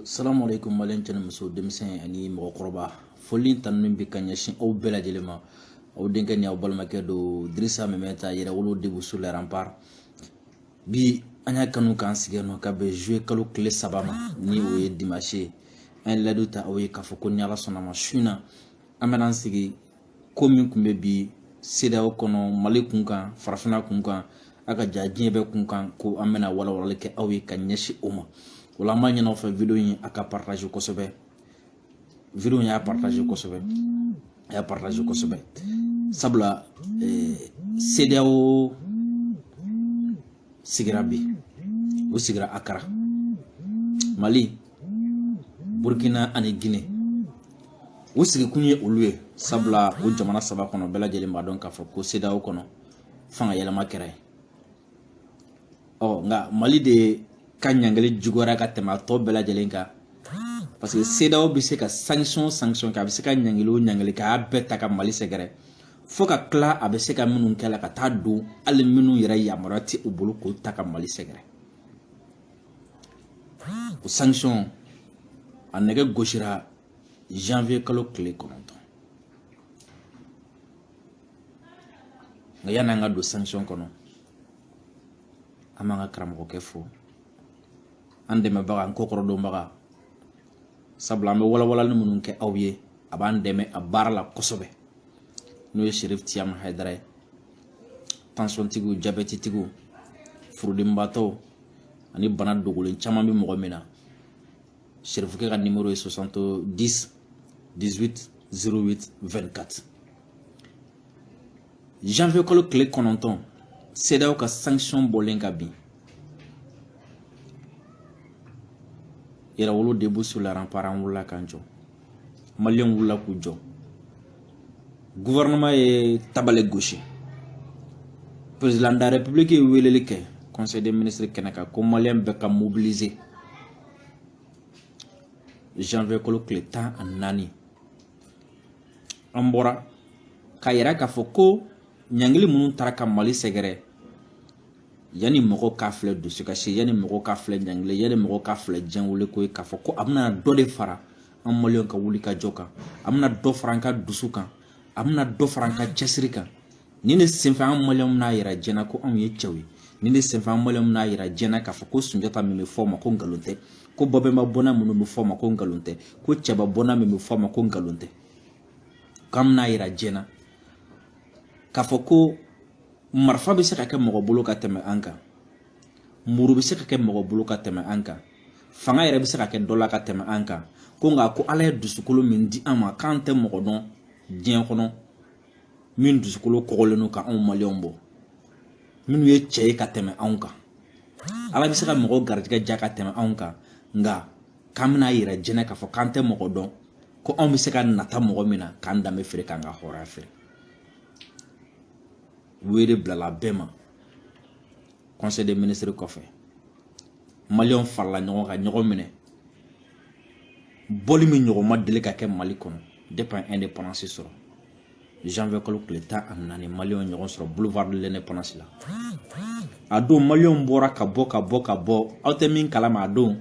salamu aleykum maliyɛn cɛ ni muso denmisɛn ani mɔgɔkɔrɔba foli ni tanuni bɛ ka ɲɛsin aw bɛɛ lajɛlen ma aw denkɛ ni aw balimakɛ don dirisa meminta yɛrɛwolo debout sur les remparts bi an y'a kanu k'an sigi nɔ ka bɛn juillet kalo tile saba ma ni o ye dimanche ye an ye layidu ta aw ye k'a fɔ ko ni ala sɔnna ma su in na an bɛna an sigi ko min tun bɛ bi CEDEAO kɔnɔ Mali kun kan farafinna kun kan a ka ja diɲɛ bɛɛ kun kan ko an bɛna walawalali kɛ aw ye ka ɲɛsin o ma o la an b'a ɲini aw fɛ video in a ka partage kosɛbɛ video in y'a partage kosɛbɛ a y'a partage kosɛbɛ sabula eh, CEDEAO sigira bi u sigira akara mali burkina ani guinée u sigikun ye olu ye sabula o jamana saba kɔnɔ bɛɛ lajɛlen b'a dɔn k'a fɔ ko CEDEAO kɔnɔ fanga yɛlɛma kɛra ye ɔ nka mali de ka ɲangili juguyara ka tɛmɛ a tɔ bɛɛ lajɛlen kan parce que CEDEAO bɛ se ka sanction sanction kɛ a bɛ se ka ɲangili o ɲangili kɛ a bɛɛ ta ka mali sɛgɛrɛ fo ka tila a bɛ se ka minnu kɛ la ka taa don hali minnu yɛrɛ yamaruya tɛ u bolo k'o ta ka mali sɛgɛrɛ o sanction a nɛgɛ gosira janvier kalo tile kɔnɔntɔn nka yanni an ka don sanction kɔnɔ an b'an ka karamɔgɔkɛ fo an dɛmɛbaga an kɔkɔrɔdonbaga sabula an bɛ walawalali minnu kɛ aw ye a b'an dɛmɛ a baara la kosɛbɛ n'o ye serif tiyama hayidara ye tansɔntigiw jabɛtitigiw furudimibaatɔw ani bana dogolen caman bɛ mɔgɔ min na serifukɛ ka nimoro ye 70 18 08 24 janvier kalo tile kɔnɔntɔn CEDEAO ka sanction bɔlen ka bin yɛrɛwolo debout sur les remparts an wulila k'an jɔ maliyɛn wulila k'u jɔ gouvernement ye tabale gosi président de la république ye weleli kɛ conseil des ministres kɛnɛ kan ko maliyɛn bɛɛ ka mobiliser janvier kalo tile tan ani naani an bɔra k'a yira k'a fɔ ko ɲangili minnu tara ka mali sɛgɛrɛ yanni mɔgɔ k'a filɛ dusukasi yanni mɔgɔ k'a filɛ ɲangili yanni mɔgɔ k'a filɛ jɛnwele ko ye k'a fɔ ko a bɛna dɔ de fara an maliyɛn ka wuli ka jɔ kan a bɛna dɔ fara an ka dusu kan a bɛna dɔ fara an ka cɛsiri kan nin de senfɛ an maliyɛnw n'a yira jɛn na ko anw ye cɛw ye nin de senfɛ an maliyɛnw n'a yira jɛn na k'a fɔ ko sunjata min bɛ fɔ ma ko nkalon tɛ ko babɛnba bɔnna minnu bɛ fɔ ma ko nkalon tɛ ko cɛba bɔnna min bɛ fɔ ma ko nkalon tɛ k'an bɛn'a yira jɛn na k'a fɔ ko marifa bɛ se ka kɛ mɔgɔ bolo ka tɛmɛ an kan muru bɛ se ka kɛ mɔgɔ bolo ka tɛmɛ an kan fanga yɛrɛ bɛ se ka kɛ dɔ la ka tɛmɛ an kan ko nka ko ala ye dusukolo min di an ma k'an tɛ mɔgɔ dɔn diɲɛ kɔnɔ min dusukolo kɔgɔlen don ka anw maliyɛnw bɔ minnu ye cɛ ye ka tɛmɛ anw kan ala bɛ se ka mɔgɔ garijɛgɛ diya ka tɛmɛ anw kan nka k'an bɛn'a yira jɛn na k'a fɔ k'an tɛ mɔgɔ dɔn ko anw bɛ se ka nata mɔgɔ min na k'an danbe feere k'an ka hɔrɔnya feere wele bilala bɛɛ ma conseil des ministres kɔfɛ maliyɛnw farala ɲɔgɔn kan ɲɔgɔn minɛ bɔli min ɲɔgɔn ma deli ka kɛ mali kɔnɔ depuis an indépendance sɔrɔ janvier kalo tile tan ani naani maliyɛnw ɲɔgɔn sɔrɔ boulevard de l'indépendance la a don maliyɛnw bɔra ka bɔ ka bɔ ka bɔ aw tɛ min kalama a don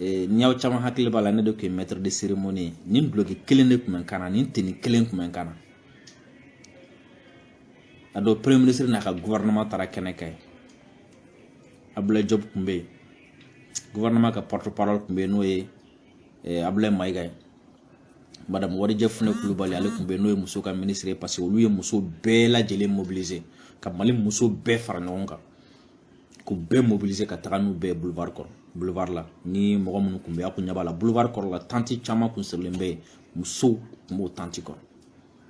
eh, ni aw caman hakili b'a la ne de tun ye maître de cérémonie ye nin duloki kelen de tun bɛ n kan na nin tenue kelen tun bɛ n kan na a don premier ministre n'a ka gouvernement taara kɛnɛ kan yen abdulayi diop tun bɛ yen gouvernement ka porte parole tun bɛ yen n'o ye eh, abulayi mayiga ye madame wadije funɛ kulubali ale tun bɛ yen n'o ye muso ka ministre ye parce que olu ye muso bɛɛ lajɛlen mobiliser ka mali muso bɛɛ fara ɲɔgɔn kan k'u bɛɛ mobiliser ka taga n'u bɛɛ boulevard kɔrɔ boulevard la ni mɔgɔ minnu tun bɛ a kun ɲɛ b'a la boulevard kɔrɔ la tente caman kun sirilen bɛ yen musow tun b'o tente kɔrɔ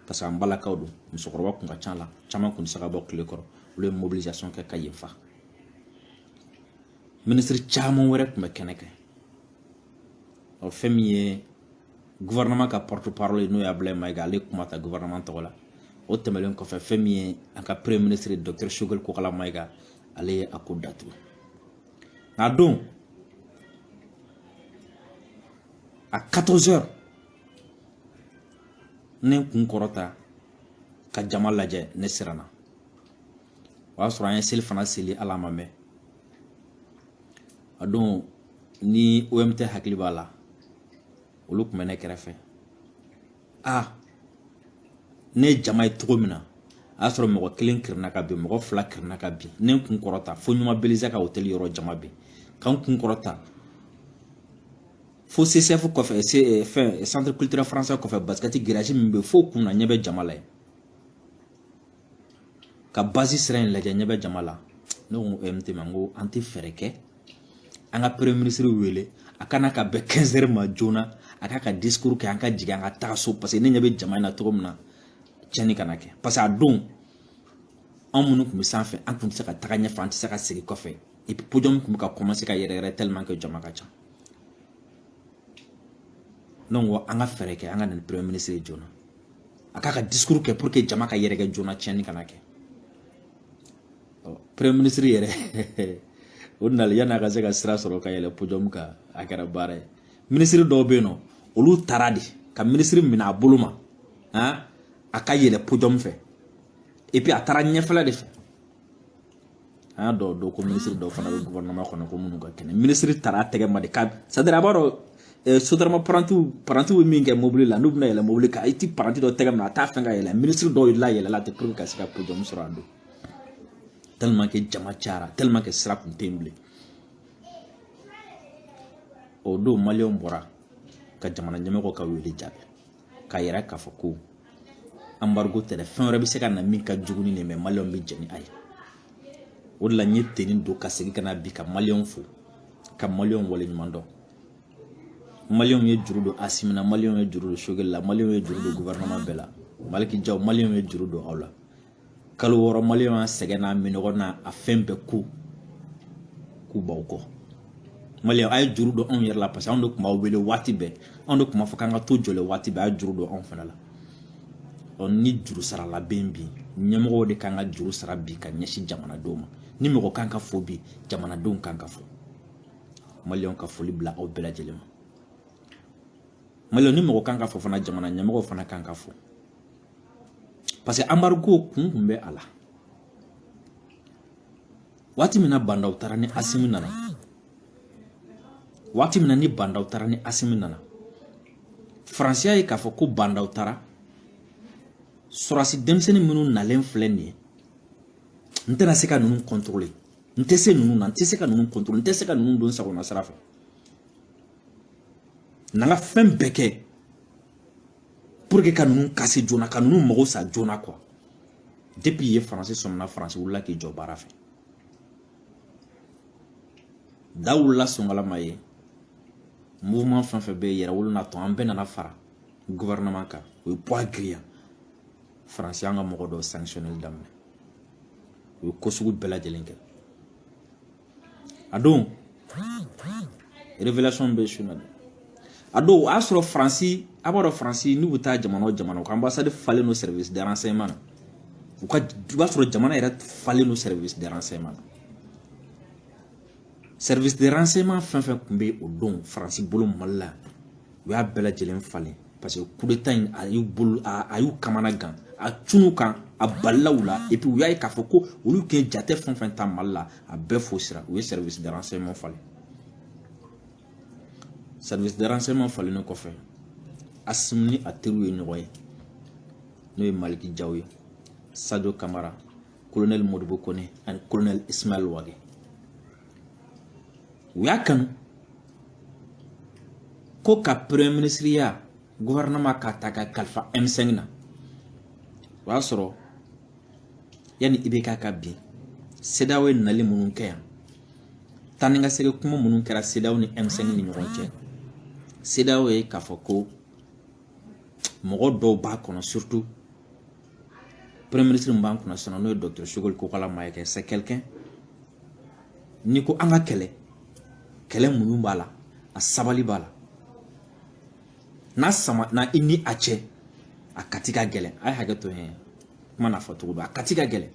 parce que an balakaw don musokɔrɔba kun ka ca a la caman kun tɛ se ka bɔ tile kɔrɔ olu ye mobilisation kɛ ka yen fa ministre caman wɛrɛ tun bɛ kɛnɛ kan ɔ fɛn min ye gouvernement ka porte parole ye n'o ye abulayi mayiga ale ye kuma ta gouvernement tɔgɔ la o tɛmɛlen kɔfɛ fɛn min ye an ka premier ministre docteur choguel kokala mayiga ale ye a ko datugu nka don à 14 heures ne kun kɔrɔta ka jama lajɛ ne siranna o y'a sɔrɔ an ye selifana seli ala ma mɛn a don ni om tv hakili b'a la olu tun bɛ ne kɛrɛfɛ a ne ye jama ye cogo min na a y'a sɔrɔ mɔgɔ kelen kirina ka bin mɔgɔ fila kirina ka bin ne n kun kɔrɔta fo ɲuma belleza ka hotɛli yɔrɔ jama bɛ yen ka n kun kɔrɔta fo ccf kɔfɛ eh, fɛn eh, centre culturel français kɔfɛ basikɛti garage min bɛ fo kun na ɲɛ bɛ jama la yen ka basi sira in lajɛ ɲɛ bɛ jama la ne ko MT ma n ko an tɛ fɛɛrɛ kɛ an ka premier ministre wele a kana ka bɛn 15 heures ma joona a k'a ka discours kɛ an ka jigin an ka taa so parce que ne ɲɛ bɛ jama in na cogo min na tiɲɛni kana kɛ parce que a don anw minnu tun bɛ sanfɛ an tun tɛ se ka taga ɲɛfɛ an tɛ se ka segin kɔfɛ et puis podium tun bɛ ka commencer ka yɛrɛyɛrɛ tellement que jama ka ca ne ko an ka fɛɛrɛ kɛ an ka na ni premier ministre ye joona a k'a ka discours kɛ pour que jama ka yɛrɛkɛ joona tiɲɛni kana kɛ premier ministre yɛrɛ o nali yanni a ka se ka sira sɔrɔ ka yɛlɛ podium kan a kɛra baara ye minisiri dɔw bɛ yen nɔ olu taara de ka minisiri minɛ a bolo ma a ka yɛlɛ podium fɛ et puis a taara ɲɛfɛla de fɛ an y'a dɔw dɔn ko minisiri dɔw fana bɛ gouvernement kɔnɔ ko minnu ka kɛnɛ minisiri taara a tɛgɛ ma de ka c'est à dire a b'a dɔn eh, sotarama parantiw parantiw bɛ min kɛ mobili la n'u bɛna yɛlɛ mobili kan i ti paranti dɔ tɛgɛ minɛ a t'a fɛn ka yɛlɛ minisiri dɔw layɛlɛla ten pour que ka se ka podium sɔrɔ a don tellement que jama cayara tellement que sira kun tɛ yen bilen o don maliyɛnw bɔra ka jamana ɲɛmɔgɔw ka wele jaabi k'a yira k'a fɔ ko embargo tɛ dɛ fɛn wɛrɛ bɛ se ka na min ka jugu ni nin mais maliyɛnw bɛ jɛn ni a ye o de la n ye tenue don ka segin ka na bi ka maliyɛnw fo ka maliyɛnw waleɲuman dɔn maliyɛnw ye juru don asimi na maliyɛnw ye juru don sogɛli la maliyɛnw ye juru don gouvernement bɛɛ la maliki jaw maliyɛnw ye juru don aw la kalo wɔɔrɔ maliyɛnw y'a sɛgɛn n'a minnɔgɔ n'a fɛn bɛɛ ko k'u b'aw kɔ maliyɛnw a ye juru don anw yɛrɛ la parce que anw de tun b'aw wele waati bɛɛ anw de tun b'a fɔ k'an ka to jɔlen waati bɛɛ a ye juru don anw fana la ɔ ni juru sarala bɛ yen bi ɲɛmɔgɔw de kan ka juru sara bi ka ɲɛsin jamanadenw ma ni mɔgɔ kan ka fo bi jamanadenw kan ka fo maliyɛnw ka foli bila aw bɛɛ lajɛlen ma maliyɛnw ni mɔgɔ kan ka fo fana jamana ɲɛmɔgɔw fana kan ka fo parce que embargo kun kun bɛ a la waati min na bandaw taara ni asimi nana waati min na ni bandaw taara ni asimi nana faransi y'a ye k'a fɔ ko bandaw taara sɔrɔdasi denmisɛnnin minnu nalen filɛ nin ye n tɛna se ka ninnu contrôler n tɛ se ninnu na n tɛ se ka ninnu contrôler n tɛ se ka ninnu don sagona sira fɛ n'an ka fɛn bɛɛ kɛ pour que ka ninnu casser joona ka ninnu mago sa joona quoi depuis yen faransi sɔmina faransi wulila k'i jɔ baara fɛ da wulila songalama ye mouvement fɛn fɛn bɛ yen yɛrɛwolo n'a tɔw an bɛɛ nana fara gouvernement kan o ye poids giriya faransi y'an ka mɔgɔ dɔw sanctionneli daminɛ u ye ko sugu bɛɛ lajɛlen kɛ a don révélation bɛ su na dɛ a don o y'a sɔrɔ faransi a b'a dɔn faransi n'u bɛ taa jamana o jamana u ka anbasadi falen don service de renseignement na i b'a sɔrɔ jamana yɛrɛ falen don service de renseignement na service de renseignement fɛn fɛn tun bɛ o don faransi bolo mali la u y'a bɛɛ lajɛlen falen parce que kudeta in a y'u bolo a y'u kamana gan a cunna u kan a balala u la et puis u y'a ye k'a fɔ ko olu tun ye jate fɛn fɛn ta mali la a bɛɛ fosira u ye service de renseignement falen service de renseignement falennen kɔfɛ asimi ni a teriw ye ɲɔgɔn ye n'o ye maliki jaw ye sadio kamara colonel modibo kone ani colonel ismail wage u y'a kanu ko ka premier minisiriya gɔfɛrɛnaman k'a ta ka kalifa M5 na o y'a sɔrɔ yanni IBK ka bin CEDEAO ye nali minnu kɛ yan taa ni ka segin kuma minnu kɛra CEDEAO ni M5 ni ɲɔgɔn cɛ CEDEAO ye k'a fɔ ko mɔgɔ dɔw b'a kɔnɔ surtout premier ministre min b'an kunna sisan n'o ye docteur Sogɛli Kokala Mayiga c'est quelqu'un n'i ko an ka kɛlɛ kɛlɛ muɲu b'a la a sabali b'a la n'a samana i ni a cɛ a kati ka gɛlɛn a ye hakɛ to yen kuma n'a fɔ cogo don a kati ka gɛlɛn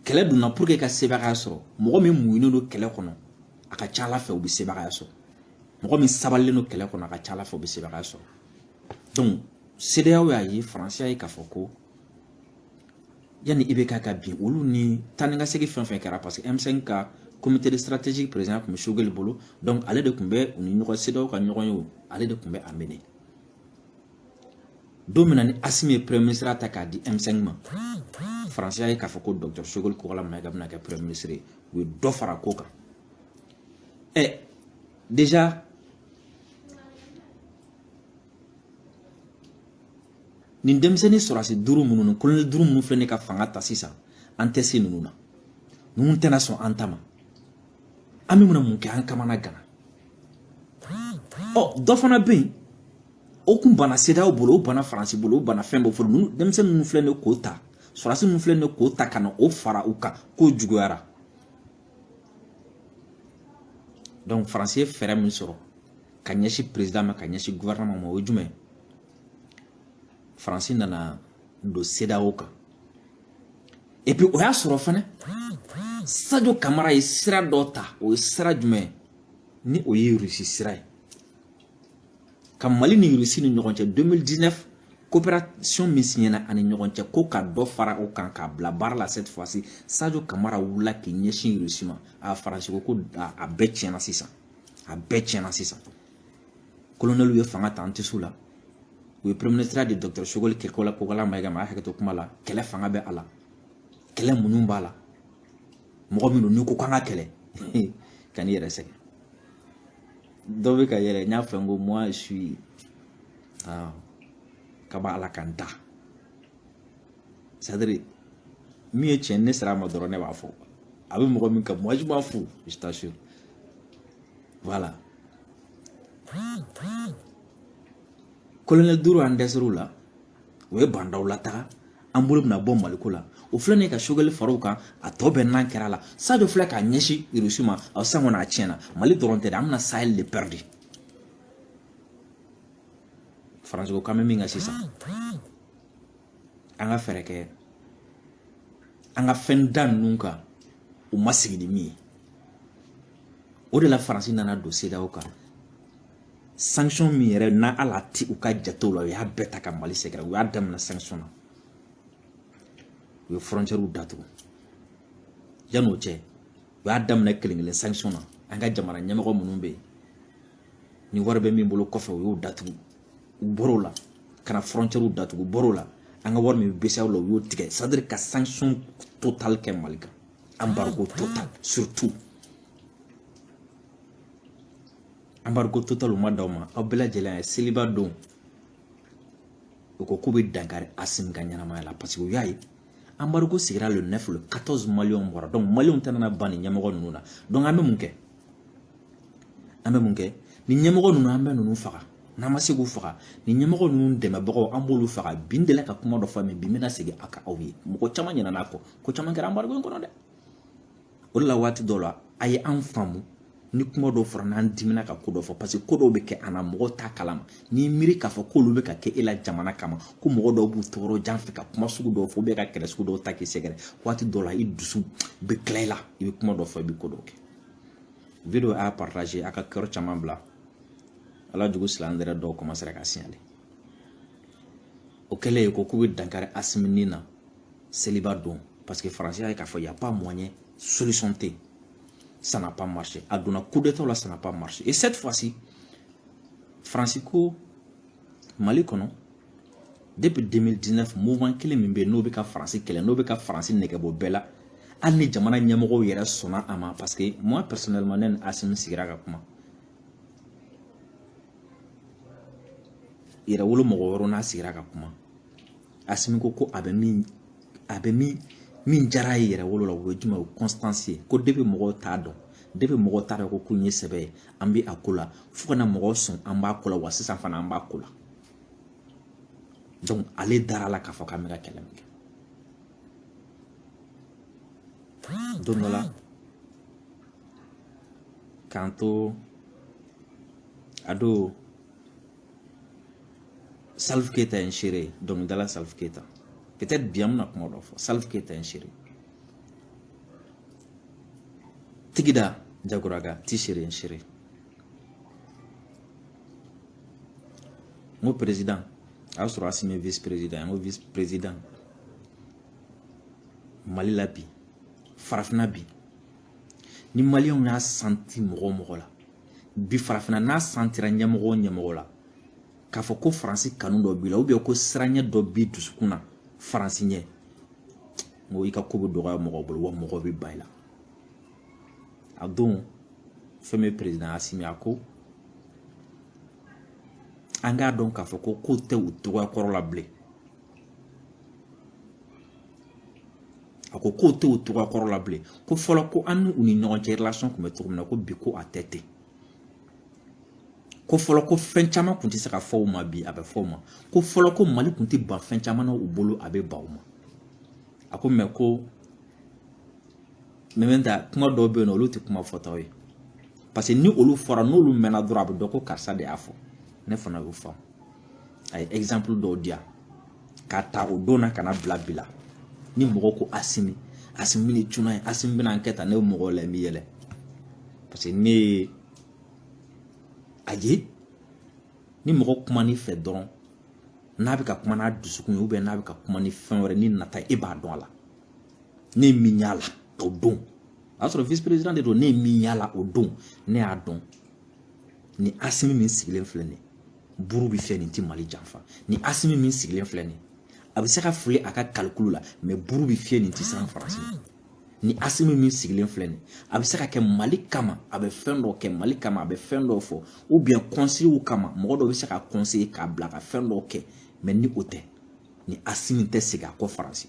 kɛlɛ donna pour que ka sebagaya sɔrɔ mɔgɔ min muɲunen don kɛlɛ kɔnɔ a ka ca ala fɛ u bɛ sebagaya sɔrɔ mɔgɔ min sabalilen don kɛlɛ kɔnɔ a ka ca ala fɛ u bɛ sebagaya sɔrɔ donc CEDEAO y'a ye faransi y'a ye k'a fɔ ko yanni IBK ka bin olu ni taa ni ka segin fɛn fɛn kɛra parce que M5 ka comité de stratégie président tun bɛ Sogɛli bolo donc ale de tun bɛ u ni ɲɔgɔn CEDEAO ka ɲɔgɔnye o ale de tun bɛ a mener don min na ni Asimi ye premier ministre ta k'a di M5 ma faransi y'a ye k'a fɔ ko docteur Sogɛli Kokala Mayiga bɛna kɛ premier ministre ye u ye dɔ fara ko kan ɛ déjà nin denmisɛnnin sɔrɔsi duuru minnu ni kolonɛli duuru minnu filɛ ne ka fanga ta sisan an tɛ se ninnu na ninnu tɛna sɔn an ta ma an bɛ mun kɛ an kamana ganna ɔ dɔ fana bɛ yen o tun banna CEDEAO bolo o banna faransi bolo o banna fɛn bɛɛ bolo ninnu denmisɛnnin ninnu filɛ ne k'o ta sɔrɔsi ninnu filɛ ne k'o ta ka na o fara u kan ko juguyara donc faransi ye fɛɛrɛ min sɔrɔ ka ɲɛsin perezidan ma ka ɲɛsin gouvernement ma o ye jumɛn ye faransi nana don CEDEAO kan et puis o y'a sɔrɔ fana sadio kamara ye sira dɔ ta o ye sira jumɛn ni o ye rusi sira ye ka mali ni irisi ni ɲɔgɔn cɛ 2019 coopération min siɲɛna an ni ɲɔgɔn cɛ ko ka dɔ fara o kan k'a bila baara la cette fois ci sadio kamara wulila k'i ɲɛsin irisi ma a faransi ko ko a bɛɛ tiɲɛna sisan a bɛɛ tiɲɛna sisan kolonɛliw ye fanga ta an tɛ s'u la u ye premier ministre di docteur sogɛli kɛkɔ la kokala mayiga ma a hakɛto kuma la kɛlɛ fanga bɛ a la kɛlɛ minnu b'a la mɔgɔ min don n'i ko k'an ka kɛlɛ kan'i yɛrɛ sɛgɛn dɔ bɛ ka yɛlɛ n y'a fɔ n ko moi je suis ah, ka bɔ ala kan ta c'est-à-dire min ye tiɲɛ ne sera a ma dɔrɔn ne b'a fɔ a bɛ mɔgɔ min gan moi je m'en fous je t'assure voilà kolonɛli duuru an dɛsɛr'u la o ye ba ndaw lataga an bolo bɛna bɔ maliko la o filɛ nin ye ka sogɛli far'o kan a tɔ bɛɛ nan kɛra a la sadio filɛ k'a ɲɛsin irisi ma a sisan kɔni a tiɲɛna mali dɔrɔn tɛ dɛ an bɛna sahel de pɛridi faransi ko k'an bɛ min kɛ sisan an ka fɛɛrɛ kɛ an ka fɛn da ninnu kan u ma sigi ni min ye o de la faransi nana don cedeao kan sanction min yɛrɛ n'a ala ti u ka jatew la u y'a bɛɛ ta ka mali sɛgɛrɛ u y'a daminɛ sanction na u ye frontiɛriw datugu yanni o cɛ u y'a daminɛ kelen kelen sanction na an ka jamana ɲɛmɔgɔ minnu bɛ yen ni wari bɛ min bolo kɔfɛ u y'o datugu u bɔr'o la ka na frontiɛriw datugu u bɔr'o la an ka wari min bɛ bceao la u y'o tigɛ c'est-à-dire ka sanction total kɛ mali kan embargo total surtout embargo total ma d'aw ma aw bɛɛ lajɛlen ye seliba don u ko k'u bɛ dankari asimi ka ɲɛnamaya la parce que u y'a ye embargo sigira le 9 le 14 maliyɛnw bɔra donc maliyɛnw tɛna ban nin ɲɛmɔgɔ ninnu na donc an bɛ mun kɛ an bɛ mun kɛ nin ɲɛmɔgɔ ninnu an bɛ ninnu faga n'an ma se k'u faga nin ɲɛmɔgɔ ninnu dɛmɛbagaw an b'olu faga bi n delila ka kuma dɔ fɔ min bi n bɛna segin a kan aw ye mɔgɔ caman ɲinɛna a kɔ ko caman kɛra embargo in kɔnɔ dɛ o de la waati dɔ la a ye an faamu ni kuma dɔw fɔra n'an dimina ka ko dɔ fɔ parce que ko dɔw bɛ kɛ an na mɔgɔw t'a kalama n'i miiri k'a fɔ k'olu bɛ ka kɛ e la jamana kama ko mɔgɔ dɔw b'u to yɔrɔ jan fɛ ka kuma sugu dɔw fɔ ka kɛlɛ sugu dɔw ta k'i sɛgɛrɛ waati dɔ la i dusu bɛ tila i la i bɛ kuma dɔ fɔ i bɛ ko dɔw kɛ video y'a partage a ka kɛyɔrɔ caman bila ala jugu silamɛ dɛrɛ dɔw kɔmansera k'a siɲale o kɛlen ko k'u bɛ dankari asimi ni na seliba don parce que faransi y'a ye k'a fɔ y'a pas moyen solution tɛ yen ça n'a pas marché a donna coup d'état la ça n'a pas marché et cette fois-ci faransi ko mali kɔnɔ depuis 2019 mouvement kelen min bɛ yen n'o bɛ ka faransi kɛlɛ n'o bɛ ka faransi nɛgɛbɔ bɛɛ la hali ni jamana ɲɛmɔgɔw yɛrɛ sɔnna a ma parce que moi personnellement ne ni asimi sigira ka kuma yɛrɛwolo mɔgɔ wɛrɛw n'a sigira ka kuma asimi ko ko a bɛ min a bɛ min min diyara a ye yɛrɛwolo la o ye jumɛn o constance ye ko depuis mɔgɔw t'a dɔn depuis mɔgɔw t'a dɔn ko ko in ye sɛbɛ ye an bɛ a ko la fo ka na mɔgɔw sɔn an b'a ko la wa sisan fana an b'a ko la donc ale dara a la k'a fɔ k'an bɛ ka kɛlɛ min kɛ don dɔ la k'an to a don Salif Keita ye n seere ye dɔnkilidala Salif Keita peut-être bi an bɛna kuma dɔ fɔ Salif Keita ye n seere ye Tigida Jagoraga ti seere ye n seere ye n ko président a y'a sɔrɔ Asimi ye vice président n ko vice président Mali la bi farafinna bi ni maliyɛnw y'a santi mɔgɔ o mɔgɔ la bi farafinna n'a santira ɲɛmɔgɔ o ɲɛmɔgɔ la k'a fɔ ko faransi kanu dɔ b'i la ou bien ko siranɲɛ dɔ b'i dusukun na faransi ɲɛ n ko i ka ko bɛ dɔgɔya mɔgɔw bolo wa mɔgɔw bɛ ban i la a don fɛn min président asimi a ko an k'a dɔn k'a fɔ ko kow tɛ u cogoya kɔrɔ la bilen a ko kow t'u cogoya kɔrɔ la bilen ko fɔlɔ ko an n'u ni ɲɔgɔn cɛ relation tun bɛ cogo min na ko bi ko a tɛ ten ko fɔlɔ ko fɛn caman tun tɛ se ka fɔ u ma bi a bɛ fɔ u ma ko fɔlɔ ko mali tun tɛ ban fɛn caman na u bolo a bɛ ban u ma a ko mais ko mɛmɛ ta kuma dɔw bɛ yen n'olu tɛ kuma fɔtaw ye parce que ni olu fɔra n'olu mɛnna dɔrɔn a bɛ dɔn ko karisa de y'a fɔ ne fana y'o faamu a ye exemple dɔw di yan k'a ta o don na ka na bila bi la ni mɔgɔ ko asimi asimi bɛ ni cunna ye asimi bɛna kɛ tan ne bɛ mɔgɔw la n bɛ yɛlɛ parce que ne ye a ye ni mɔgɔ kumana i fɛ dɔrɔn n'a bɛ ka kuma n'a dusukun ye ou bien n'a bɛ ka kuma ni fɛn wɛrɛ ni nata e b'a dɔn a la ne ye min y'a la o don o y'a sɔrɔ vice président de don ne ye min y'a la o don ne y'a dɔn ni asimi min sigilen filɛ nin ye buru bi fiyɛ nin ti mali janfa ni asimi min sigilen filɛ nin ye a bɛ se ka fili a ka kalikulu la mɛ buru bi fiyɛ nin ti siran faransi ni asimi min sigilen filɛ nin a bɛ se ka kɛ mali kama a bɛ fɛn dɔ kɛ mali kama a bɛ fɛn dɔ fɔ u biyɛn kɔnsɛyi kama mɔgɔ dɔ bɛ se k'a kɔnseye k'a bila ka fɛn dɔ kɛ mɛ ni o tɛ ni asimi tɛ segin a kɔ faransi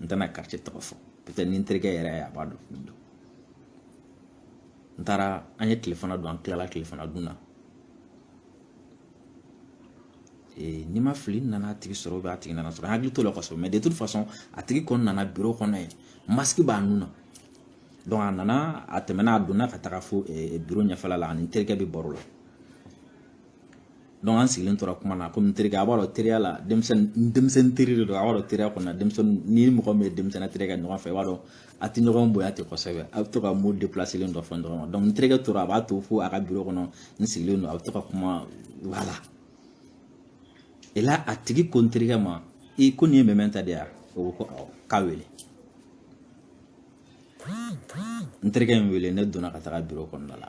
n tɛna quartier tɔgɔ fɔ pɛtɛ ni n terikɛ yɛrɛ a b'a dɔn min don n taara an ye tilefana don an tilala tilefana dun na ni n ma fili n nana a tigi sɔrɔ ou bien a tigi nana n sɔrɔ n hakili t'o la kosɛbɛ mais de toute façon a tigi kɔni nana biro kɔnɔ yen masque b'a nun na donc a nana a tɛmɛna a donna ka taga fo biro ɲɛfɛla la a ni n terikɛ bɛ baro la dɔnku an sigilen tora kuma na komi n terikɛ a b'a dɔn teriya la denmisɛnnin denmisɛnnin teri de don a b'a dɔn teriya kɔnɔna denmisɛnnin ni mɔgɔ min ye denmisɛnnin terikɛ ɲɔgɔn fɛ i b'a dɔn a tɛ ɲɔgɔn bonya ten kosɛbɛ a bɛ to ka mo depilaselen dɔ fɔ ɲɔgɔn ma dɔnku n terikɛ tora a b'a to fo a ka biro kɔnɔ n sigilen don a bɛ to ka kuma voilà et là a tigi ko n terikɛ ma ko nin ye mɛmɛnta de ye wa o ko ko awɔ k'a wele n terikɛ ye n wele ne donna ka taga biro kɔnɔna la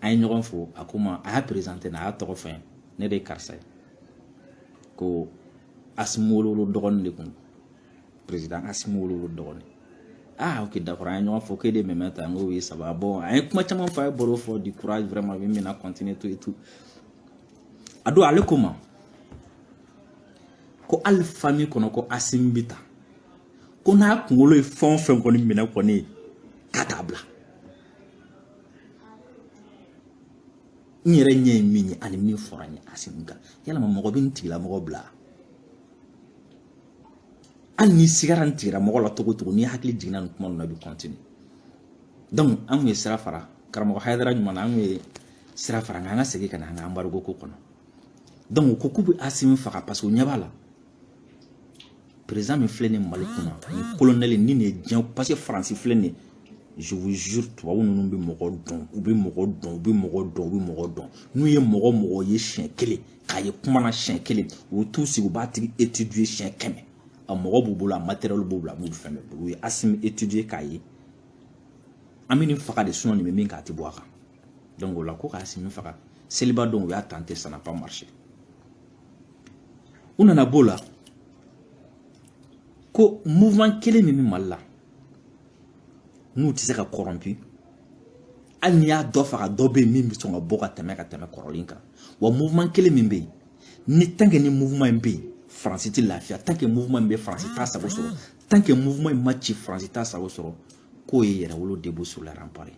an ye ɲɔgɔn fo a ko n ma a y'a perezante n na a y'a tɔgɔ fɔ n ye ne de ye karisa ye ko asimi wolowolo dɔgɔnin de kun perezidan asimi wolowolo dɔgɔnin ah ok d'accord an ye ɲɔgɔn fo k'e de mɛmɛnta n ko oui ça va bon an ye kuma caman fɔ a ye baro fɔ du courage vraiment min bɛna continuer tout et tout a don ale ko n ma ko hali fami kɔnɔ ko asimi bi ten ko n'a kunkolo ye fɛn o fɛn kɔni minɛ kɔni k'a t'a bila n yɛrɛ ɲɛ ye min ye ani min fɔra n ye asimi kan yalama mɔgɔ bɛ n tigilamɔgɔ bila hali n'i sigara n tigilamɔgɔ la togo togo n'i hakili jiginna nin kuma ninnu na i bɛ kɔntini dɔnku an kun ye sira fara karamɔgɔ hayidara ɲuman na an kun ye sira fara nka an ka segin ka na an ka anbarigo ko kɔnɔ dɔnku u ko k'u bɛ asimi faga paseke u ɲɛ b'a la perezidan min filɛ nin mali kunna nin kolonɛli ni nin ye diɲɛ paseke faransi filɛ nin ye je vous jure tubabu ninnu bɛ mɔgɔ dɔn u bɛ mɔgɔ dɔn u bɛ mɔgɔ dɔn u bɛ mɔgɔ dɔn n'u ye mɔgɔ mɔgɔ ye siɲɛ kelen k'a ye kuma na siɲɛ kelen u bɛ t'u sigi u b'a tigi étudier siɲɛ kɛmɛ a mɔgɔ b'u bolo a matériel b'u bolo a b'u fɛn bɛɛ bolo u ye asimi étudier k'a ye an bɛ nin faga de sinɔn nin bɛ min kan a tɛ bɔ a kan donc o la ko ka asimi faga seliba don u y'a tenté ça n'a pas marché U nana b'o la ko mouvement kelen min bɛ Mali la n'u tɛ se ka corrompu hali n'i y'a dɔ faga dɔ bɛ yen min bɛ sɔn ka bɔ ka tɛmɛ ka tɛmɛ kɔrɔlen kan wa mouvement kelen min bɛ yen ni tant que ni mouvement in bɛ yen faransi tɛ lafiya tant que mouvement in bɛ faransi t'a sago sɔrɔ tant que mouvement in ma ci faransi t'a sago sɔrɔ k'o ye yɛrɛwolo debout sur les remparts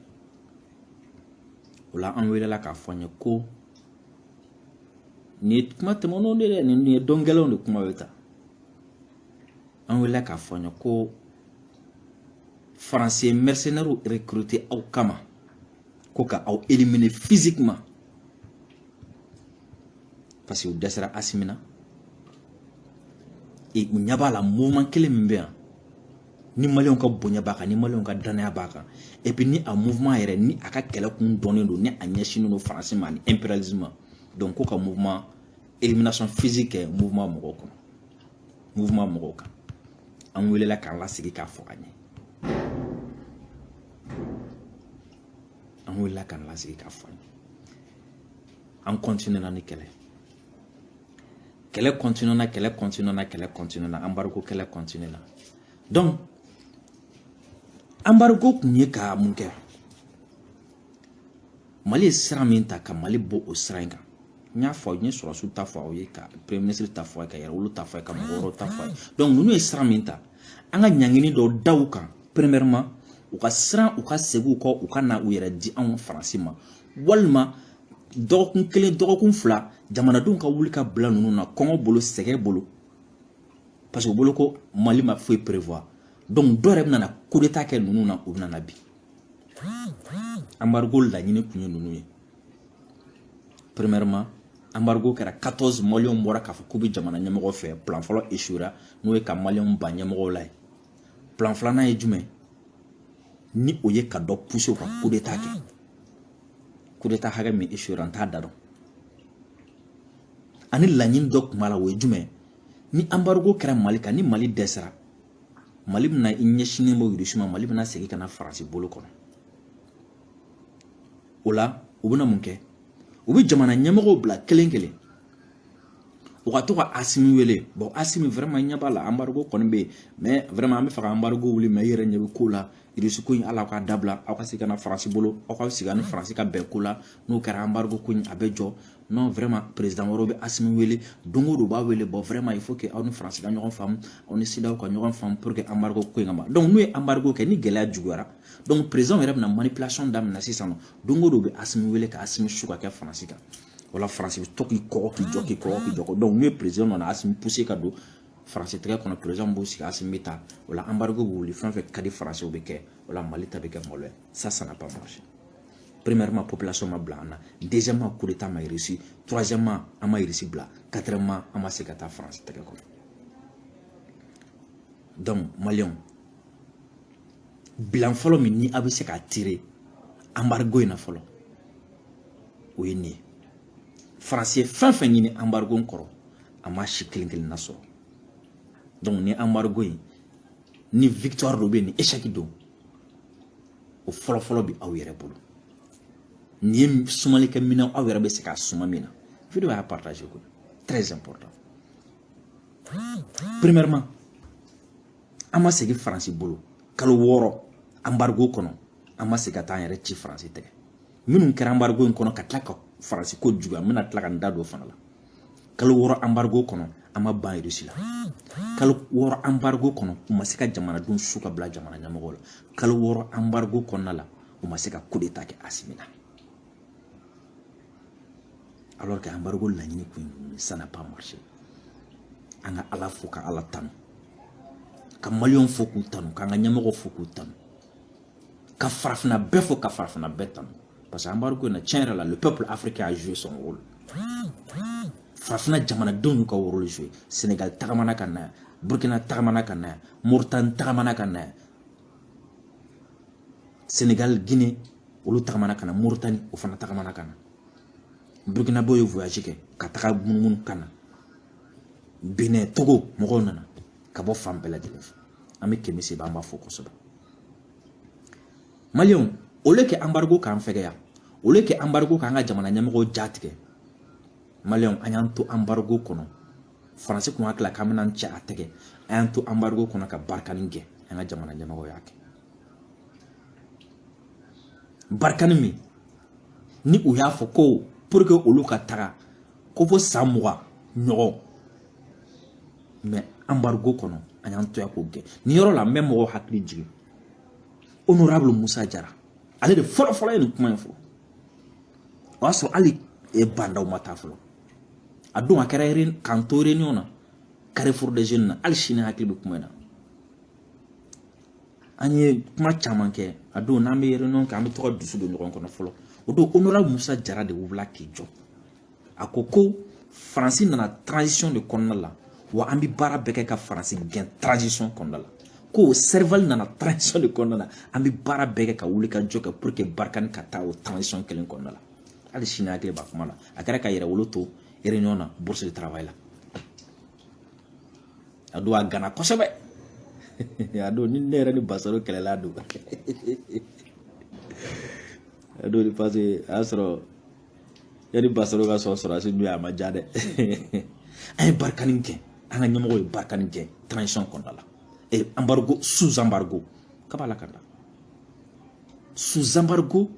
o la an welela k'a fɔ an ye ko Nin ye kuma tɛmɛnenw de dɛ nin ye don gɛlɛnw de kuma bɛ ta an welela k'a fɔ an ye ko faransi ye mercenaires recruter aw kama ko ka aw éliminer physiquement parce que u dɛsɛra asimi na u ɲɛ b'a la mouvement kelen min bɛ yan ni ma ka bonya b'a kan ni ma ka danya b'a kan ep ni a munma yɛrɛ ni a ka kɛlɛ kun dɔnnen don ni a ɲɛsin don farasi ma ni epli ma dɔn ko ka munma emina5 fisi kɛ munma mɔgɔw kɔnɔ munma mɔgɔw kan an wulilala k'an la sigi k'a fɔ ka ɲɛ an wulila k'an la sigi k'a fɔ ɲɛ an kɔntan ni kɛlɛ kɛlɛ continuera kɛlɛ continuera kɛlɛ continuera embargo kɛlɛ continuera donc embargo kun ye ka mun kɛ mali ye sira min ta ka mali bɔ o sira in kan n y'a fɔ n ye sɔrɔsiw ta fɔ aw ye ka premier ministre ta fɔ a ye ka yɛrɛwolo ta fɔ a ye ka mɔgɔ wɛrɛw ta fɔ a ye donc ninnu ye sira min ta an ka ɲangini dɔw da u kan premièrement u ka siran u ka segin u kɔ u ka na u yɛrɛ di anw faransi ma walima dɔgɔkun kelen dɔgɔkun fila jamanadenw ka wuli ka bila ninnu na kɔngɔ bolo sɛgɛn bolo parce que u bolo ko mali ma foyi prévoir donc dɔ yɛrɛ bɛna coup d'état kɛ ninnu na u bɛna bin embargo laɲini tun ye ninnu ye premièrement embargo kɛra 14 maliyɛnw bɔra k'a fɔ k'u bɛ jamana ɲɛmɔgɔ fɛ plan fɔlɔ échouera n'o ye ka maliyɛnw ban ɲɛmɔgɔw la ye plan filanan ye jumɛn ni o ye ka dɔ pousser u ka coup d'état kɛ coup d'état hakɛ min échouera n t'a da dɔn ani laɲini dɔ tun b'a la o ye jumɛn ni embargo kɛra mali kan ni mali dɛsɛra mali bɛna i ɲɛsinnen bɔ irisi ma mali bɛna segin ka na faransi bolo kɔnɔ o la u bɛna mun kɛ u bɛ jamana ɲɛmɔgɔw bila kelen kelen u ka to ka asimi wele bon asimi vraiment ɲɛ b'a la embargo kɔni bɛ yen mais vraiment an bɛ fɛ ka embargo wuli mais i yɛrɛ ɲɛ bɛ ko la irisi ko in ala k'a dabila aw ka se ka na faransi bolo aw ka sigi ni faransi ka bɛn ko la n'o kɛra embargo ko in a bɛ jɔ non vraiment président wɛrɛw bɛ asimi wele don o don b'a wele bon vraiment il faut que aw ni faransi ka ɲɔgɔn faamu aw ni CEDEAO ka ɲɔgɔn faamu pour que embargo ko in ka ban donc n'u ye embargo kɛ ni gɛlɛya juguyara donc président yɛrɛ bɛna manipulation daminɛ sisan don o don u bɛ asimi wele ka asimi su ka kɛ faransi kan wala faransi bɛ to k'i kɔgɔ k'i jɔ k'i kɔgɔ k'i jɔ donc n'u ye président nana asimi pousser ka don faransi tɛgɛ kɔnɔ président b'u sigi asimi bɛ taa o la anbarigo bɛ wuli fɛn fɛn ka di faransi o bɛ kɛ o la mali ta bɛ kɛ malo ye ça n'a pas marché premièrement population ma bila an na deuxièmement coup d'état ma réussi troisièmement an ma irisi bila quatrièmement an ma se ka taa faransi tɛgɛ kɔnɔ donc maliyɛnw bilan fɔlɔ min ni aw bɛ se k'a tirer anbarigo in na fɔlɔ o ye nin ye faransi ye fɛn fɛn ɲini anbarigo kɔrɔ a ma si kelen kelenna sɔrɔ donc ni anbarigo in ni victoire dɔ bɛ yen ni échec don o fɔlɔfɔlɔ bɛ aw yɛrɛ bolo nin ye sumalikɛ minɛn aw yɛrɛ bɛ se k'a suma min na vidéo y'a partager koyi très important premièrement an ma segin faransi bolo kalo wɔɔrɔ anbarigo kɔnɔ an ma segin ka taa an yɛrɛ ci faransi tɛgɛ minnu kɛra anbarigo in kɔnɔ ka tila ka faransi ko juguya n bɛna tila ka n da don fana la kalo wɔɔrɔ anbarigo kɔnɔ an ma ban irisi la kalo wɔɔrɔ anbarigo kɔnɔ u ma se ka jamanadenw su ka bila jamana ɲɛmɔgɔw la kalo wɔɔrɔ anbarigo kɔnɔna la u ma se ka kudeta kɛ asimi na alors que anbarigo laɲini kun ye ça n'a pas marché an ka ala fo ka ala tanu ka maliyɛnw fo k'u tanu k'an ka ɲɛmɔgɔw fo k'u tanu ka farafina bɛɛ fo ka farafina bɛɛ tanu parce que anbarigo in na tiɲɛ yɛrɛ la le peuple africain a joué son rôle farafina jamanadenw y'u ka rôle jouer Sénégal tagamana ka na yan Burkina tagamana ka na yan Mauritanie tagamana ka na yan Sénégal Guinée olu tagamana ka na Mauritanie o fana tagamana ka na Burkinabè ye voyage kɛ ka taga munumunu ka na Benin Togo mɔgɔw nana ka bɔ fan bɛɛ lajɛlen fɛ an bɛ kemi seba an b'a fo kosɛbɛ maliyɛnw au lieu que anbarigo k'an fɛgɛya au lieu que anbarigo k'an ka jamana ɲɛmɔgɔw jatigɛ maliyɛnw an y'an to anbarigo kɔnɔ faransi kun hakili la k'an bɛna cɛ a tɛgɛ an y'an to anbarigo kɔnɔ ka barikani gɛn an ka jamana ɲɛmɔgɔw y'a gɛn barikani min ni u y'a fɔ ko pour que olu ka taga ko fo san mugan ɲɔgɔn mais anbarigo kɔnɔ an y'an to yan k'o gɛn nin yɔrɔ la n bɛ mɔgɔw hakili jigin honorable musa jara ale de fɔlɔfɔlɔ ye nin kuma in fɔ o y'a sɔrɔ hali e ba ndaw ma taa fɔlɔ a don a kɛra k'an to réunion na carrefour des jeunes na halisi n hakili bɛ kuma in na an ye kuma caman kɛ a don n'an bɛ réunion kɛ an bɛ to ka dusu don ɲɔgɔn kɔnɔ fɔlɔ o don honorable musa jara de wulila k'i jɔ a ko ko faransi nana transition de kɔnɔna la wa an bɛ baara bɛɛ kɛ ka faransi gɛn transition kɔnɔna la ko serval nana transition de kɔnɔna la an bɛ baara bɛɛ kɛ ka wulikajɔ kɛ pour que barikani ka taa o transition kelen kɔnɔna la hali sini n hakili b'a kuma la a kɛra ka yɛrɛwolo to réunion na bourse de travail la a don a ganna kosɛbɛ a don ni ne yɛrɛ ni basaro kɛlɛla a don a don parce que a y'a sɔrɔ yani basaro ka sɔn sɔrɔdasi dun a ma diya dɛ an ye barikani gɛn an ka ɲɛmɔgɔ ye barikani gɛn transition kɔnɔna la e embargo sous embargo k'a b'a la ka da sous embargo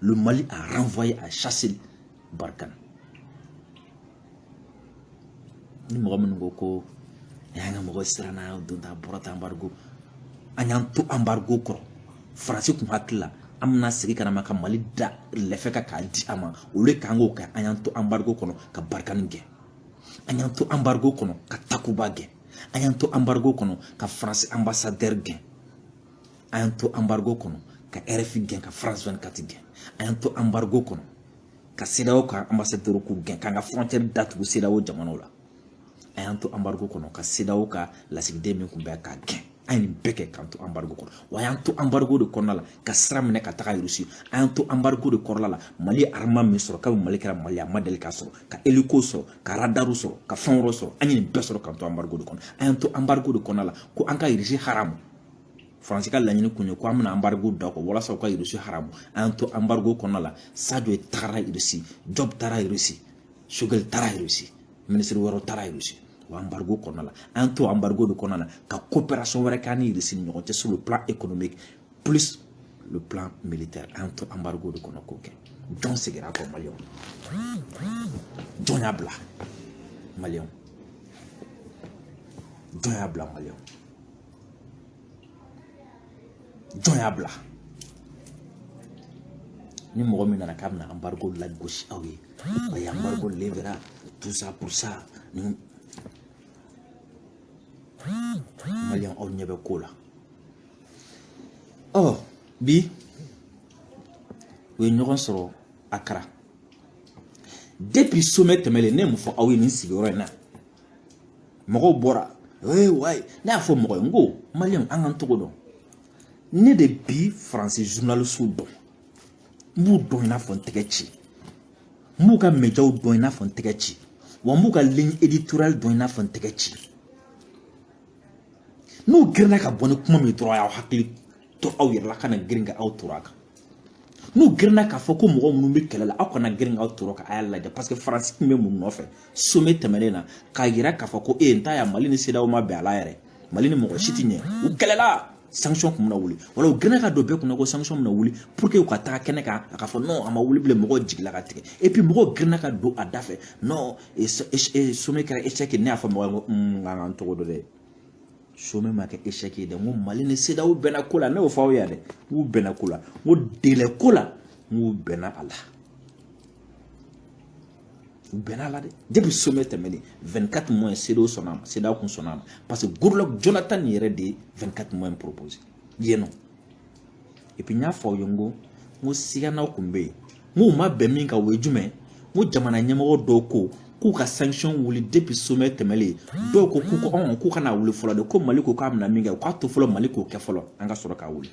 le Mali a renvoyé a chassé Barkhane ni mɔgɔ minnu ko ko a y'an ka mɔgɔ siranna don ta bɔra ta anbarigo an y'an to anbarigo kɔrɔ faransi tun hakili la an bɛna segin ka na ma ka mali da lɛfɛ kan k'a di a ma au lieu k'an k'o kɛ an y'an to anbarigo kɔnɔ ka barikani gɛn an y'an to anbarigo kɔnɔ ka takuba gɛn an y'an to anbarigo kɔnɔ ka faransi anbasadɛri gɛn an y'an to anbarigo kɔnɔ ka rfi gɛn ka france 24 gɛn an y'an to anbarigo kɔnɔ ka cedeao ka anbasadɛriw k'u gɛn k'an ka frontière datugu cedeao jamanaw la an y'an to anbarigo kɔnɔ ka cedeao ka lasigiden min kun bɛ k'a gɛn an ye nin bɛɛ kɛ k'an to anbarigo kɔnɔ wa an y'an to anbarigo de kɔnɔna la ka sira minɛ ka taga rusi an y'an to anbarigo de kɔnɔna la mali arama min sɔrɔ kabi mali kɛra mali a ma deli k'a sɔrɔ ka hélico sɔrɔ ka radaru sɔrɔ ka fɛn wɛrɛ sɔrɔ an ye nin bɛɛ sɔrɔ k'an to anbarigo de kɔnɔ an y'an to anbarigo de kɔnɔna la ko an ka irisi haramu faransi ka laɲini kun ye ko an bɛna anbarigo da kɔ walasa u ka irisi haramu an y'an to anbarigo kɔnɔna la sajo tagara irisi jɔb taara irisi sogɛli taara irisi minisiri wɛrɛw taara irisi o anbarigo kɔnɔna la an y'an to anbarigo de kɔnɔna la ka coopération wɛrɛ k'an ni irisi ni ɲɔgɔn cɛ sur le plan économique plus le plan militaire an y'an to anbarigo de kɔnɔ k'o kɛ jɔn segira kɔ maliyɛnw jɔn y'a bila maliyɛnw jɔn y'a bila maliyɛnw jɔn y'a bila ni mɔgɔ min nana k'a bɛna anbarigo lagosi aw ye o ye anbarigo levera tout ça pour ça ni maliyɛn aw ɲɛ bɛ ko la ɔ bi u ye ɲɔgɔn sɔrɔ accra depuis sommet tɛmɛlen ne ye mun fɔ aw ye nin sigiyɔrɔ in na mɔgɔw bɔra ee wayi ne y'a fɔ mɔgɔ ye n ko maliyɛnw an k'an togo dɔn ne de bi faransi zurunalisiw dɔn n b'u dɔn i n'a fɔ n tɛgɛci n b'u ka médiaw dɔn i n'a fɔ n tɛgɛci wa n b'u ka ligne éditoriale dɔn i n'a fɔ n tɛgɛci n'u girinna ka bɔ ni kuma min dɔrɔn a y'aw hakili to aw yɛrɛ la kana girin ka aw toro a kan n'u girinna k'a fɔ ko mɔgɔ minnu bɛ kɛlɛ la aw kana girin k'aw tɔɔrɔ ka a lajɛ parce que faransi tun bɛ mun nɔfɛ sommet tɛmɛnen na k'a yira k'a fɔ ko e ye n ta yan mali ni cedeao ma bɛn a la yɛrɛ mali ni mɔgɔ si tɛ ɲɛ u kɛlɛla sanction tun bɛna wuli wala u girinna ka don bɛɛ kunna ko sanction bɛna wuli pour que u ka taga kɛnɛ kan a ka fɔ non a ma wuli bilen mɔgɔw jigila ka tigɛ et puis mɔgɔw girinna ka don a da fɛ non sommet kɛra échec ne y'a fɔ mɔgɔ ye ko n ka n tɔgɔ dɔ dɛ sommet ma kɛ échec ye dɛ n ko mali ni cedeao bɛnna ko la ne y'o fɔ aw ye dɛ n k'u bɛnna ko la n ko délai ko la n k'u bɛnna a la u bɛnna a la dɛ depuis sommet tɛmɛnen 24 mois cedeao sɔnna a ma cedeao kun sɔnna a ma parce que goodluck jonathan yɛrɛ de ye 24 mois proposé yen nɔ n y'a fɔ aw ye n ko n ko siganaw kun bɛ yen n k'u ma bɛn min kan o ye jumɛn n ko jamana ɲɛmɔgɔ dɔw ko k'u ka sanction wuli depuis sommet tɛmɛlen dɔw ko k'u ko ɔn k'u kana wuli fɔlɔ de ko mali ko k'a bɛna min kɛ u k'a to fɔlɔ mali k'o kɛ fɔlɔ an ka sɔrɔ k'a wuli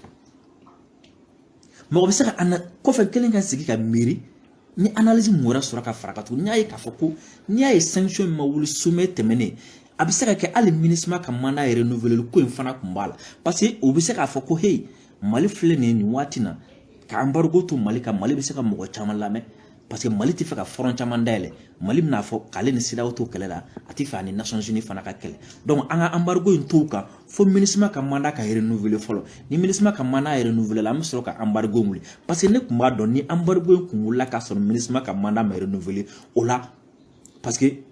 mɔgɔ bɛ se ka na kɔfɛ kelen ka sigi ka miiri ni analyse mun wɛrɛ sɔrɔ ka fara kan tuguni n y'a ye k'a fɔ ko n'i y'a ye sanction in ma wuli sommet tɛmɛnen a bɛ se ka kɛ hali minusma ka mandat yɛrɛ renouveler ko in fana tun b'a la parce que u bɛ se k'a fɔ ko heyi mali filɛ nin ye nin waati na ka embargo to mali kan mali bɛ se ka mɔgɔ caman lamɛn parce que mali tɛ fɛ ka front caman dayɛlɛ mali bɛna fɔ k'ale ni cedeao to kɛlɛ la a tɛ fɛ ani nations unies fana ka kɛlɛ donc an ka embargo in to kan fo minusma ka mandat ka renouveler fɔlɔ ni minusma ka mandat renouveler la an bɛ sɔrɔ ka embargo wuli parce que ne tun b'a dɔn ni embargo in kun wulila ka sɔrɔ minusma ka mandat ma renouveler o la parce que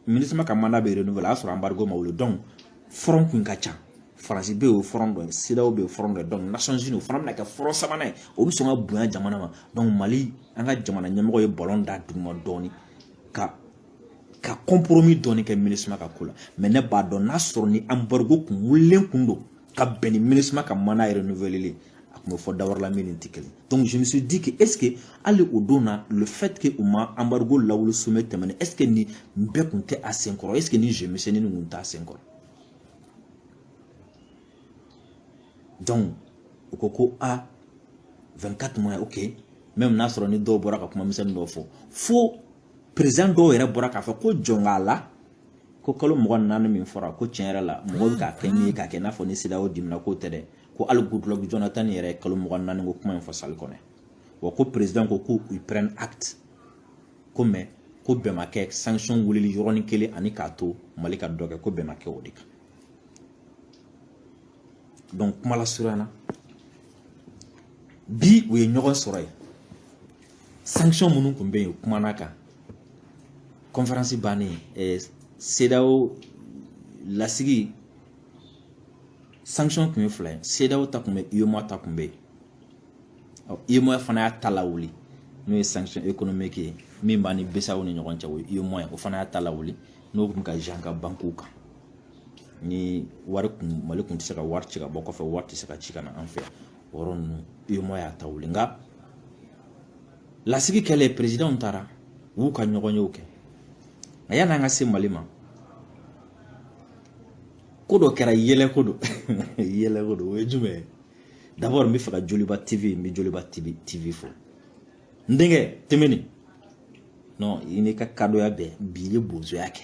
minusma ka mandat bɛ renouveler o y'a sɔrɔ embargo ma wuli donc front kun ka ca faransi bɛ yen o front dɔ ye cedeao bɛ yen front dɔ ye donc nations unies o fana bɛna kɛ front sabanan ye o bɛ sɔn ka bonya jamana ma donc mali an ka jamana ɲɛmɔgɔ ye balon da duguma dɔɔnin ka ka compromis dɔɔni kɛ minusma ka ko la mais ne b'a dɔn n'a sɔrɔ ni embargo kun wulilen kun don ka bɛn ni minusma ka mandat yɛrɛ renouveleli a tun bɛ fɔ dawarala min ni tɛ kelen donc je me suis dit que est ce que hali o don na le fait que u ma embargo lawuli sommet tɛmɛnen est ce que nin bɛɛ kun tɛ a senkɔrɔ est ce que nin jeu misɛnnin nin kun t'a senkɔrɔ donc u ko ko a 24 mois ok même n'a sɔrɔ ni dɔw bɔra ka kuma misɛnnin dɔw fɔ fo président dɔw yɛrɛ bɔra k'a fɔ ko jɔn k'a la ko kalo mugan ni naani min fɔra ko tiɲɛ yɛrɛ la mɔgɔw bɛ k'a kɛ min ye k'a kɛ i n'a fɔ ni cedeao dimina k'o tɛ dɛ ko hali goodluck jonathan yɛrɛ ye kalo mugan ni naani ko kuma in fɔ salle kɔnɔ wa ko président ko ko u prennent acte ko mais ko bɛn ma kɛ sanction wulili yɔrɔnin kelen ani k'a to mali ka dɔ kɛ ko bɛn ma kɛ o de kan kuma lasurunya na bi u ye ɲɔgɔn sɔrɔ yen sanction minnu tun bɛ yen u kumana kan conférence bannen ɛɛ CEDEAO lasigi sanction tun ye fila ye CEDEAO ta tun bɛ UEMOA ta tun bɛ yen ɔ UEMOA fana y'a ta lawuli n'o ye sanction économique ye min b'an ni BCEAO ni ɲɔgɔn cɛ o ye UEMOA ye o fana y'a ta lawuli n'o tun bɛ ka jan ka bankiw kan ni wari kun mali kun tɛ se ka wari ci ka bɔ kɔfɛ wari tɛ se ka ci ka na an fɛ o yɔrɔ ninnu UEMOA y'a ta wuli nka lasigi kɛlen perezidanw taara u y'u ka ɲɔgɔnyew kɛ nka yanni an ka se mali ma ko dɔ kɛra yɛlɛ ko don yɛlɛ ko don o ye jumɛn ye d'abord n b'a fɛ ka joliba tv n bɛ joliba tv tv fo n denkɛ tɛmɛni non i n'i ka kadoya bɛɛ bi i ye bozoya kɛ